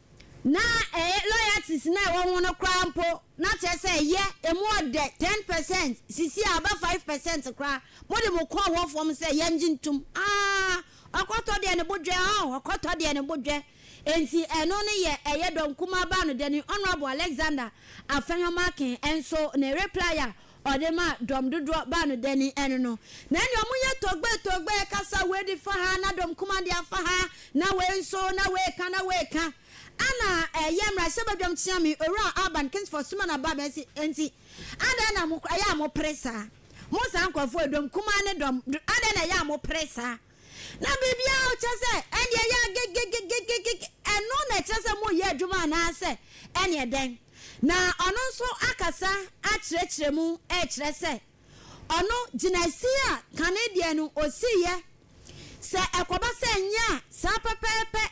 Na ɛyɛ loyalties no a ɛwɔ ho no koraa mpo, na kyerɛ sɛ ɛyɛ, emu ɔdɛ, ten percent, sisi a aba five percent koraa, mode mo kɔn hɔ fam sɛ yɛngye ntom, aah, ɔkɔtɔ deɛ ne bo dwɛ, oh, ɔkɔtɔ deɛ ne bo dwɛ. Enti ɛno no yɛ ɛyɛ dɔn kumaa baa no dɛ ne Honourable Alexander Afenyo-Markin nso ne reply a Ɔde maa dɔm dodoɔ baa no dani ɛno no na ɛne ɔmo yɛ togbee togbee kasa wei de fa ha na dɔm kumaa de afa ha na wei nso na wei ka na wei ka ɛna ɛyɛ mmarahyɛ badwam kyeame owura Alban Kingsford Suman Abah bɛsi ɛnti adɛn na mo ɛyɛ a mo pere saa mo saa nkorɔfoɔ yi dɔm kumaa ne dɔm adɛn na ɛyɛ a mo pere saa. Na biribiara a wokyerɛ sɛ ɛnneɛ yɛ a gegegegegege, ɛno na ɛkyerɛ sɛ moreyɛ adwuma anaasɛ ɛnneɛ dɛn? Na ɔno nso akasa akyerɛkyerɛ mu rekyerɛ sɛ ɔno gyinaesi a kane deɛ no ɔsiiɛ, sɛ ɛkɔba sɛ ɛnyɛ a, saa pɛpɛɛpɛ,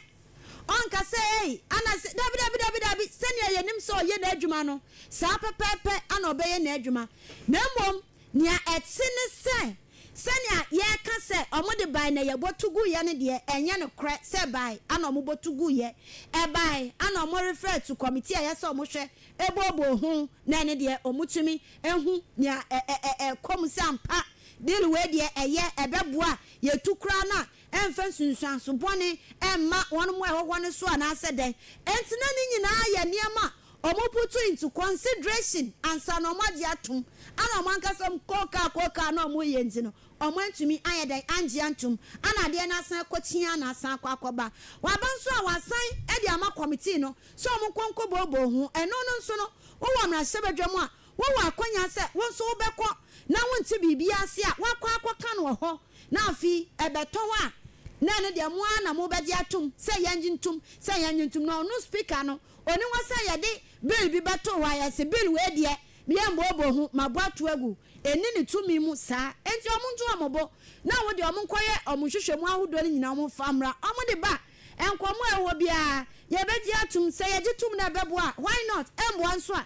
ɔnka sɛ ei, anaasɛ daabidaabidaabidaabi, sɛdeɛ yɛnim sɛ ɔyɛ n'adwuma no, saa pɛpɛɛpɛ na ɔbɛyɛ n'adwuma, na mmom Nea ɛte ne sɛ, sɛnea yɛka sɛ wɔde bae na yɛbɔto guiɛ no deɛ, ɛnyɛ nokorɛ sɛ ɛbae ana wɔbɔto guiɛ. Ɛbae ana wɔrefrɛ to kɔmitii a ɛyɛ sɛ wɔhwɛ booboo ho, na ɛno deɛ wɔtumi hu nea ɛrekɔ mu sɛ ampa deal wei deɛ ɛyɛ, ɛbɛboa yɛn tu koraa no a ɛmfa nsunsuanso bɔne mma wɔn a ɛwɔ hɔ no so anaasɛ dɛn. Enti na ne nyinaa yɛ nneɛma a Ɔmo putuw into consideration ansa na ɔmo agye atom, ana ɔmo ankasa ɔmo kɔɔ kaa kɔɔ kaa na ɔmo reyɛ nti no, ɔmo antumi ayɛ dɛn angye antom, ana adeɛ no asan akɔ kyeaa na asan akɔ akɔba. Waba nso a w'asan de ama kɔmitii no sɛ ɔmo nkɔ nkɔ booboo ho, ɛno no nso no wo wɔ mmarahyɛbadwam a wo wɔ akwanyaa sɛ wo nso wo bɛkɔ na wo nte biribiaa ase a w'akɔ akɔ ka no wɔ hɔ na afei ɛbɛtɔ hɔ a na ɛno deɛ mo ara na mo bɛgye atom sɛ yɛngye ntom sɛ yɛngye ntom na ɔno speaker no Onni hɔ sɛ yɛde bill bi bɛto hɔ a yɛse bill wei deɛ meyɛ mmooboo ho, mabɔ ato agu. Enni ne tumi mu saa. Enti wɔnto wɔn bo na wɔn deɛ wɔnkɔyɛ wɔn nhwehwɛmu ahodoɔ no nyinaa wɔmfa mmra. Wɔde ba nkɔmmɔ a ɛwɔ hɔ biara yɛbɛgye atom. Sɛ yɛgye tom na ɛbɛboa a why not? Ɛmmoa nso a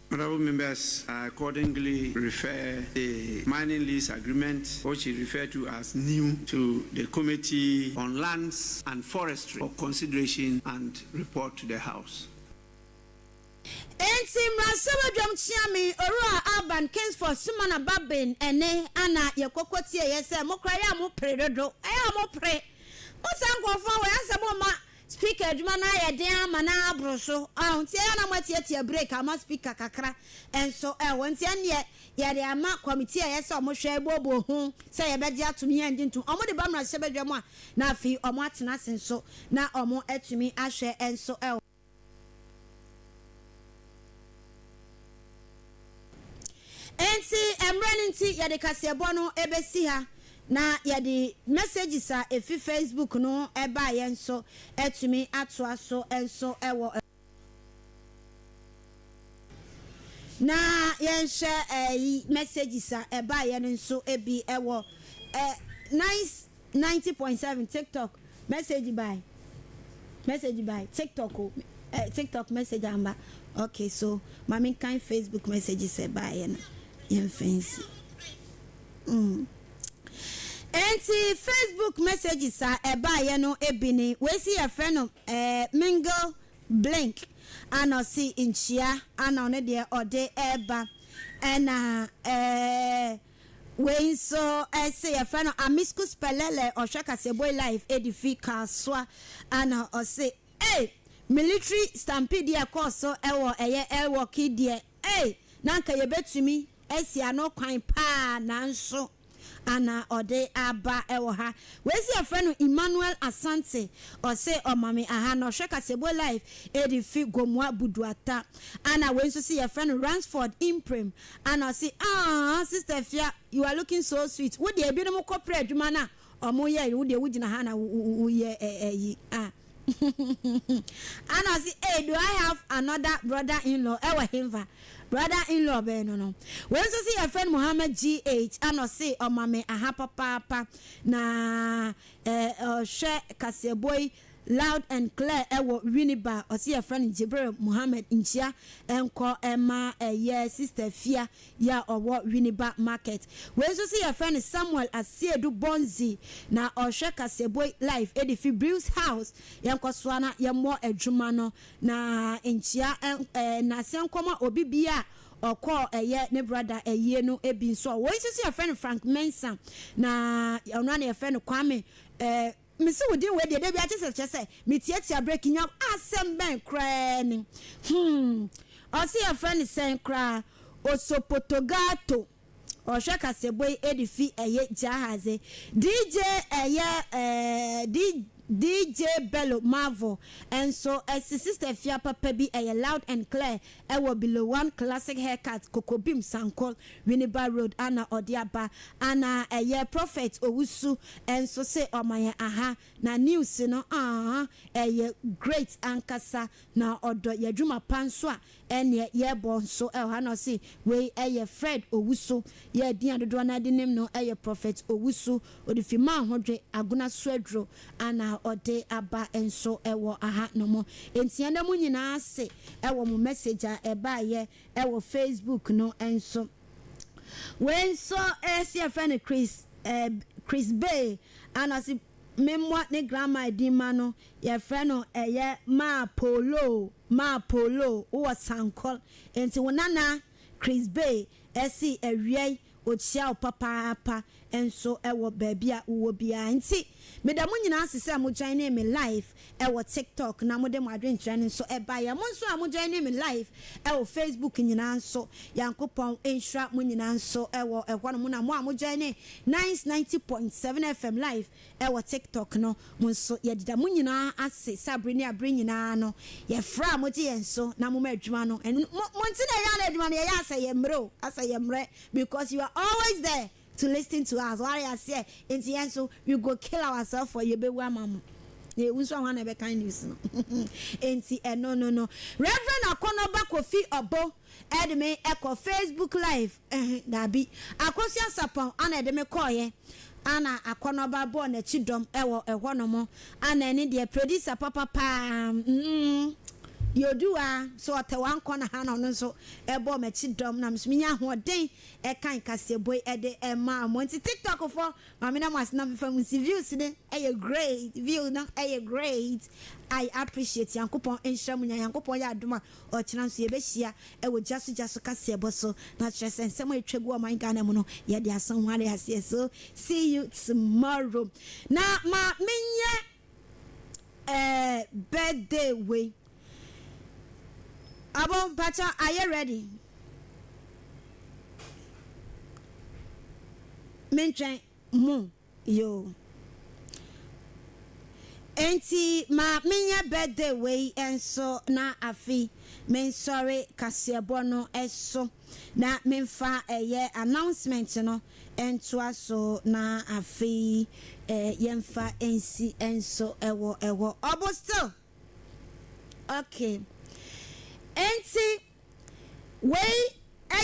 Honourable members are accordingly refer the mining lease agreement which is referred to as new to the committee on lands and forestry for consideration and report to the house. Enti mmra nsa w'adwam kyea me, Owura Alban Kingsford Sumana ba Ben ɛne Anna yɛ kɔkɔ tie yɛ sɛ mokora yɛ a mopere dodo ɛyɛ a mopere mo saa nkurɔfoɔ wei asɛ momma Speaker adwuma no ayɛ den ama no aboro so ɔho nti ɛyɛ a na mo atiatia break ama speaker kakra nso ɛho nti ɛnneɛ yɛde ama committee a ɛyɛ sɛ ɔmo hwɛ ɛboɔboɔ ho sɛ yɛbɛgye atom yɛngye ntom ɔmo de ba mmarahyɛ badwa mu a na afei ɔmo atena ase nso na ɔmo atumi ahwɛ nso ɛho. Enti, mmerɛ no nti, yɛde kaseɛbɔ no bɛsi ha, na yɛde messages a ɛfiri Facebook no baeɛ nso atumi atoa so nso wɔ. Na yɛnhwɛ ɛyi messages a ɛbaeɛ no nso bi wɔ nice. Ninety point seven TikTok message by message by TikTok o eh TikTok message amba ok so ma me nkan Facebook message sɛ ɛbaeɛ no yɛmfa nsi mm enti Facebook messages a ɛbaeɛ no bi ne wei se yɛfrɛ no eh Mingle Blink ana ɔse nkyia ana ɔno deɛ ɔde ɛɛba ɛna eh. Wei nso se yɛfrɛ no Amiscus Pelele ɔhwɛ Kaseboi live ɛdi fi Kasoa ana ɔse ei military stampede a ɛkɔɔ so wɔ ɛyɛ Ewok yi deɛ ei na anka yɛbɛtumi asi ano kwan paa nanso ana ɔde aba wɔ ha. Wei se yɛfrɛ no Emmanuel Asante ɔse ɔmame aha na ɔhwɛ Kaseboi live ɛdi fi Gomoa Buduata ana wei nso se yɛfrɛ no Ransford Imprem Ana ɔse aah sister afia you are looking so sweet wo deɛ ebinom kɔ prɛ adwuma no a ɔmo yɛ awie wo deɛ wo gyina ha na wo yɛ ayi ah Ana ɔse ee do I have another brother in law ɛwɔ henfa brother in law bɛn no no wei nso se yɛfrɛ no Mohammed GH ana ɔse ɔma me aha papaapa na eh ɔhwɛ kaseɛbɔ yi Loud and clear ɛwɔ Winneba a ɔse yɛfrɛ no Jibril Mohammed nkyia nkɔ ɛma ɛyɛ sister Afia yi a ɔwɔ Winneba market. Wei nso se yɛfrɛ no Samuel Asiedu Bonzi na ɔhwɛ Kaseboi live ɛde fi Brew's house yɛnkɔ soa na yɛmmɔ adwuma no na nkyia ɛɛ naseɛ nkɔ ma obi bia a ɔkɔɔ ɛyɛ ne brother ayie no bi nso a wei nso se yɛfrɛ no Frank Mensah na ɔno a na yɛfrɛ no Kwame ɛɛ Mese wo din wei deɛ da biara kyɛ sɛ kyerɛ sɛ metiatia break nya wo. Asɛm bɛn koraa ni? Hmm. Ɔse yɛfrɛ no sɛn koraa? Osopotogato. Ɔhwɛ kaseɛbɔ yi de fi ɛyɛ Jahaze. DJ ɛyɛ eh, DJ Bello Marvel nso ɛse sister fia papa bi ɛyɛ loud and clear ɛwɔ Below One Classic Haircut, Kokobim, Sankor, Winneba Road a na ɔde aba. Ana ɛyɛ Prophet Owusu nso se ɔma yɛn aha na news no aah ɛyɛ great ankasa na ɔdɔ y'adwuma pa nso a ɛneɛ yɛbɔ nso wɔ ha na ɔse wei ɛyɛ Fred Owusu. Yɛn din a dodoɔ no ara de nim no ɛyɛ Prophet Owusu ɔde fi maa ho dwe, agona so aduro ana ɔde aba nso wɔ aha nom. Enti ɛnɛ mo nyinaa ase wɔ mo message a ɛbaeɛ wɔ Facebook no nso. Wei nso ɛyɛ sɛ yɛfrɛ no Chris eh, Chris Bay anaase me mmɔ ne grandma din ma no, yɛfrɛ no ɛyɛ Maa Polo, Maa Polo, wowɔ Sankor. Enti wo nana Chris Bay ɛse awiɛi Okyia wo papaapa nso wɔ baabi a wowɔ biara. Nti meda mo nyinaa ase sɛ mo joinee me live wɔ TikTok na mode mo adwenkyerɛ no nso baeɛ. Mo nso a mo joinee me live wɔ Facebook nyinaa nso, Nyankopɔn nhyira mo nyinaa nso wɔ ɛhɔnom. Na mo a mo joinee Nice ninety point seven FM live Wɔ TikTok no mu nso, yɛde da mo nyinaa ase sɛ bere ne abere nyinaa no, yɛfrɛ a mogye yɛn so na moma adwuma no. Ɛno no, mo, mo nti na yɛyɛ adwuma no. Yɛyɛ asɛ yɛn mmere o, asɛ yɛn mmere because you are always there to listen to us. Ware aseɛ? Enti yɛn nso, we go kill ourselves for yɛbɛwu ama mo. Na yɛwu nso a, hwan na ɛbɛkan news no? Enti ɛno no no. Reverend Akɔnɔ ba Kofi Ɔbo de me kɔ Facebook live Eh, dabi. Akosua Sarpong ana ɛde me kɔeɛ. Ana akɔnɔba bɔɔ n'akyi dɔm wɔ ɛhɔnom. Ana ɛno deɛ, producer papa pa ara, mm-mm, deɛ ɔduu ha, so ɔtɛ wankɔ no ha na ɔno nso bɔɔ m'akyi dɔm, na me nso menya ahoɔden kan kaseɛbɔ yi de maa mo. Nti TikTokfoɔ, ma meda mo ase na memfa mu nsi. Views no yɛ great, views no yɛ great. I appreciate. Nyankopɔn nhyira mo nyinaa. Nyankopɔn yɛ adom a, Ɔkyena nso yɛbɛhyia wɔ Gya so Gya so kaseɛbɔ so na kyerɛ sɛ nsɛm a ɛtwa gu ɔman Ghana mu no yɛde aso ho are aseɛ so see you tomorrow na ma menyɛ eh, birthday wei abo mpakyɛ are you ready mentwɛn mo. Yoo. Enti ma menyɛ birthday wei nso na afe yi mensɔre kaseɛbɔ no so na memfa ɛyɛ announcement no ntoa so na afe yi yɛmfa nsi nso wɔ hɔ. Ɔbo still? Okay. Enti Wei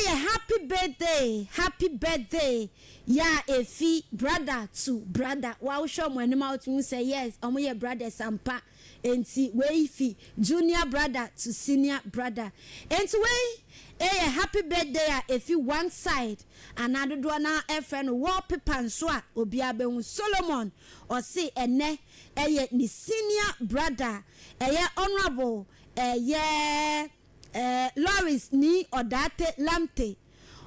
yɛ happy birthday happy birthday yɛ a efi brother to brother wa wo hwɛ ɔmo anim a wotumi hu sɛ yes ɔmo yɛ brothers ampa enti wei fi junior brother to senior brother enti wei yɛ happy birthday a efi one side anaa dodoɔ no ara frɛ no wall paper nso a obiara bɛhu Solomon ɔse ɛnɛ yɛ ne senior brother ɛyɛ honourable Eh yeah eh Lawrence Nii Odaate Lamte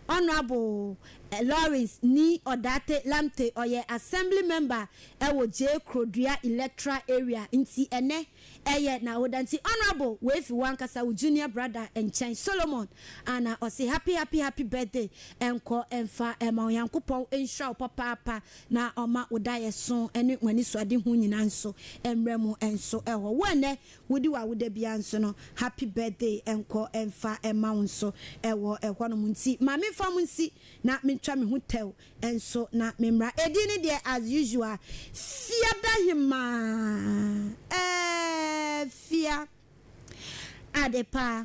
Honourable eh Lawrence Nii Odaate Lamte ɔyɛ Assembly Member wɔ Gyee Krodua Electoral Area nti ɛnɛ ɛyɛ n'awoda nti Honourable wei fi w'ankasa wo junior brother nkyɛn Solomon Anah ɔse happy happy happy birthday nkɔ mfa ma Onyankopɔn nhyira wo papaapa na ɔma wo daeɛso ne w'anisoadehu nyinaa nso mmra mu nso wɔ wo ɛnɛ Wodi w'awoda biara nso no happy birthday nkɔ mfa mma wo nso wɔ hɔnom nti ma memfa mo nsi na mentwa me ho tɛw nso na memmra. Edin no deɛ as usual Fiadahemaa ɛɛh Fia ade paa